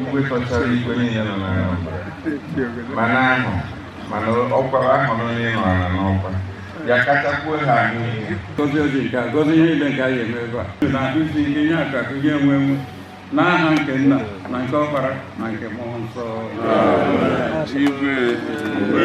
igwe kachara igwe niile nọ na Anambra mana ahụ mana ọkwara ahụ nọ n'ịnọ ala n'ọkwa ya kachakwuo ha ahụ ihe gọzie ọjị nke a gọzie ihe niile nke anyị eme ebe a na-akụzi ihe nye aka akụ ihe enwe enwe n'aha nke nna na nke ọkpara na nke mmụọ nsọ igwe igwe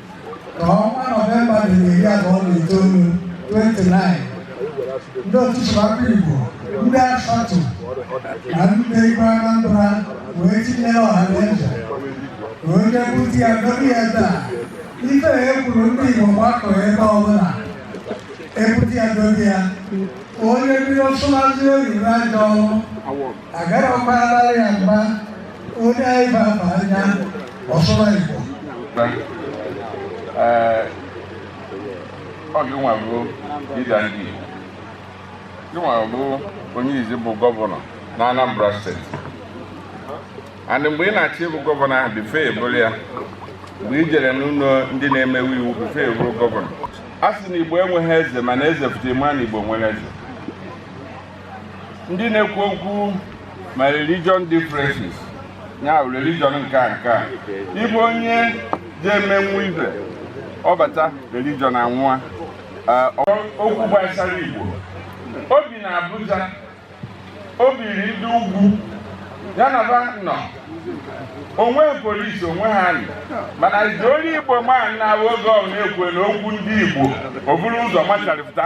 ka ọnwa nọvemba dị iri abụọ na itoolu 29 ndị otu sụbakwa igbo ndị ASATU na ndị igwe anambra wee tinyere ọha na eze ka onye bute ya dobe ya ebe a ife e kwuru ndị igbo gbakọ ebe ọbụla ebute ya dobe ya onye bido sụmazi oyibo ajọ ọrụ agarakwarala ya mgba onye anyị ba ma anya ọ sụma igbo ọ gị nwa bụ leader ndị igbo gị nwa bụ onye izizi bụ gọvanọ na anambra steeti and mgbe ị na-achị ị bụ gọvanọ ahụ before ị bụrụ ya mgbe i jere n'ụlọ ndị na-emewe iwu before ị bụrụ gọvanọ a sị na igbo enweghị eze mana eze pụta ị ma na igbo nwere eze ndị na-ekwu okwu ma religion differences ya bụ religion nke a nke a ị bụ onye ga-emenwu ife ọ bata religion anwụọ okwu gbasara Igbo o bi na Abuja o biri ndị ugwu ya na ba nọ onwe polisi onwe ha nọ mana iji onye Igbo ma na oge ọ na-ekwe na okwu ndị Igbo o buru ụzọ macharịpụta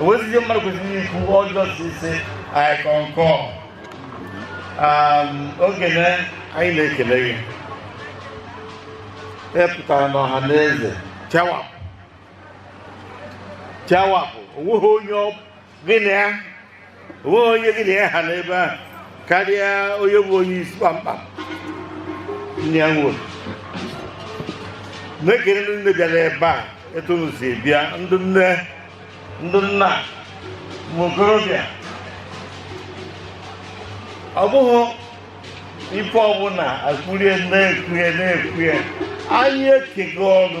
onwezizi mmadụ kwesịrị ikwu ọjọọ si ise anyị kọnkọ ogene anyị na-ekele gị ị pụtara n'ọha na eze chawapụ chawapụ o nweghị onye gị na ya o nweghị onye gị na ya ha n'ebe a karịa onye bụ onye isi kpamkpam nne ya nwụrụ na-ekele ndị nne bịara ebe a etu unu si bịa ndị nne ndị nna ụmụ okorobịa ọ bụghị ife ọbụla akwụrie na-ekwuhe na-ekwuhe anyị ekenego unu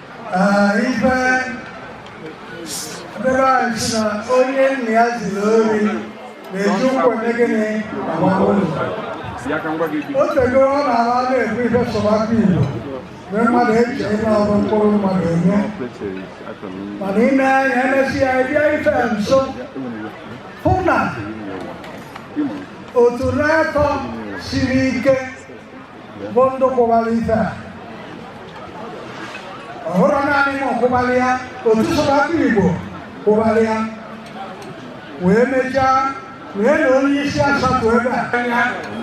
ife be anyị sị na onye nna ya ziri ori na-eji ụkwụ eme gịnị agbawa ụzọ o tego ọ na-ara na-ekwu ife sụbakwa igbo mgbe mmadụ eche ihe ọrụ mkpụrụ mmadụ enye mana ị na-anya e mesịa ị bịa ife nso hụ na otu na-atọ siri ike bụ ndụ kwụbara ife a ọ bụrọ naanị m kwụbara ya otu sụbakwa igbo kwụbara ya wee mechaa wee na onye isi ASATU ebe a anya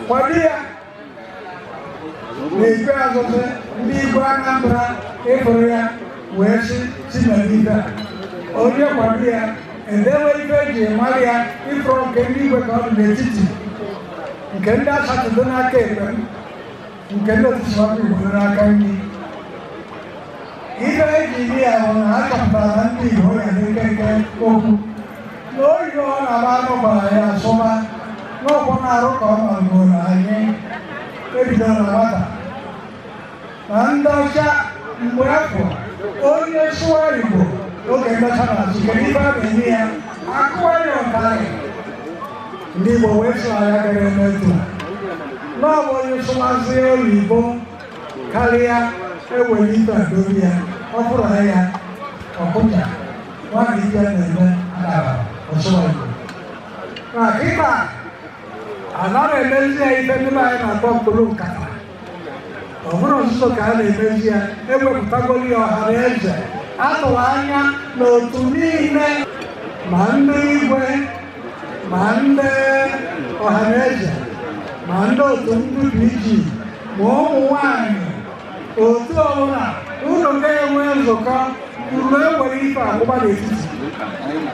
kwado ya n'ikpeazụ ndị igwe anambra ịfụrụ ya wee sị si na ife a onye kwado ya edewe ife eji mara ya ị fụrụ nke ndị igwe ka ọ dị n'etiti nke ndị ASATU dị n'aka ekpe m nke ndị otu sụbakwa igbo n'aka nri ife eji iri ya bụ na a chọpụtara na ndị igbo ya dị nkenke okwu na oyibo na-agba anụ gbara ya asụba n'ọkwụ na-arụ ka ọ nọgoro anyị ebidoro na nwata na ndị ọcha mgbe afụ onye sụwa Igbo oge ndị ọcha na-achị kedu ife a na-eme ya akụwa ya ụtarị ndị Igbo wee sị ọ ya ka a ga-eme etu n'ọbụ onye sụwazi oyibo karịa ewere ife a dobe ya ọ bụrụ na ya ọ kụja nwaanyị ife na-eme adara ọ sụwa Igbo na kịta anaghị emezi ya ife ndị anyị na-akpọ mkpụrụ nkata ọ bụrọ nzuzo ka a na-emezi ya ewepụtagoro ya ọha na eze atụrụ anya na otu niile ma ndị igwe ma ndị ọha na eze ma ndị otu ndị PG ma ụmụ nwanyị otu ọbụla unu ga-enwe nzukọ unu ewere ife a kwụba n'etiti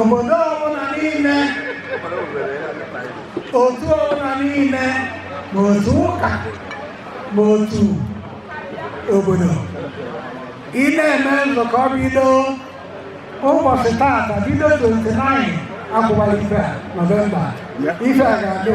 obodo ọbụla niile otu ọbụla niile ma otu ụka ma otu obodo ị na-eme nzukọ bido ụbọchị taata bido 29 a kwụbara ife a nọvemba ife a ga-adị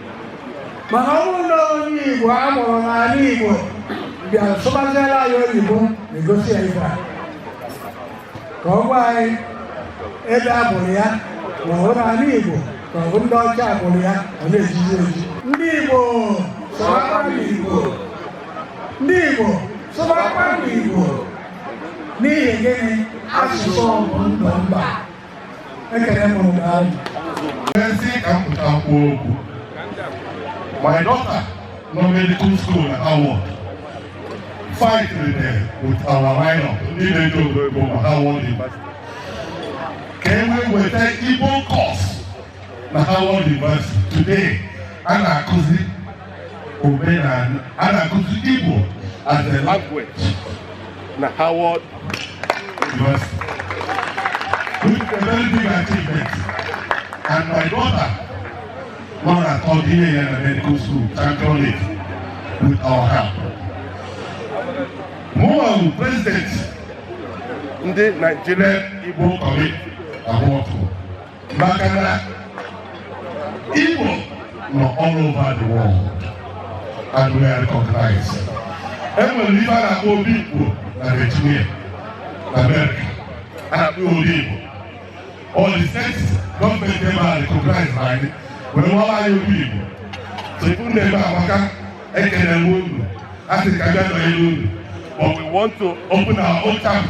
mana ọ bụrụ na onye Igbo a mụrụ n'ala Igbo bịa sụbaziela anyị oyibo na-egosi ya ife a ka ọ gwa anyị ebe a mụrụ ya ma ọ bụ n'ala Igbo ka ọ bụ ndị ọcha mụrụ ya ọ na-ezizi ozi ndị Igbo sụbakwanụ Igbo ndị Igbo sụbakwanụ Igbo n'ihi gịnị asụsụ ọ bụ ndụ mba ekele m unu daalụ e sị ka m pụta kwuo okwu my daughter nọ medical school na Howard fight there with our lineup ndị na-eji obodo ebo na Howard ka e wee weta igbo course na Howard University today a na-akụzi omenala a na-akụzi Igbo as a language na Howard University which is a very big achievement and my daughter nọ na third year ya na medical school championed it with our help mụwa bụ president ndị Nigerian Igbo Community abroad maka na Igbo nọ all over the world and we are recognized. E nwere ife a na-akpọ obi Igbo na Virginia na America a na-akpọ obi Igbo all the states gọọmenti ebe a recognize na anyị wee rụọra anyị obi Igbo so ife unu na-eme amaka ekene m unu a sị ka bịa nọnyere unu but we want to open our own chapter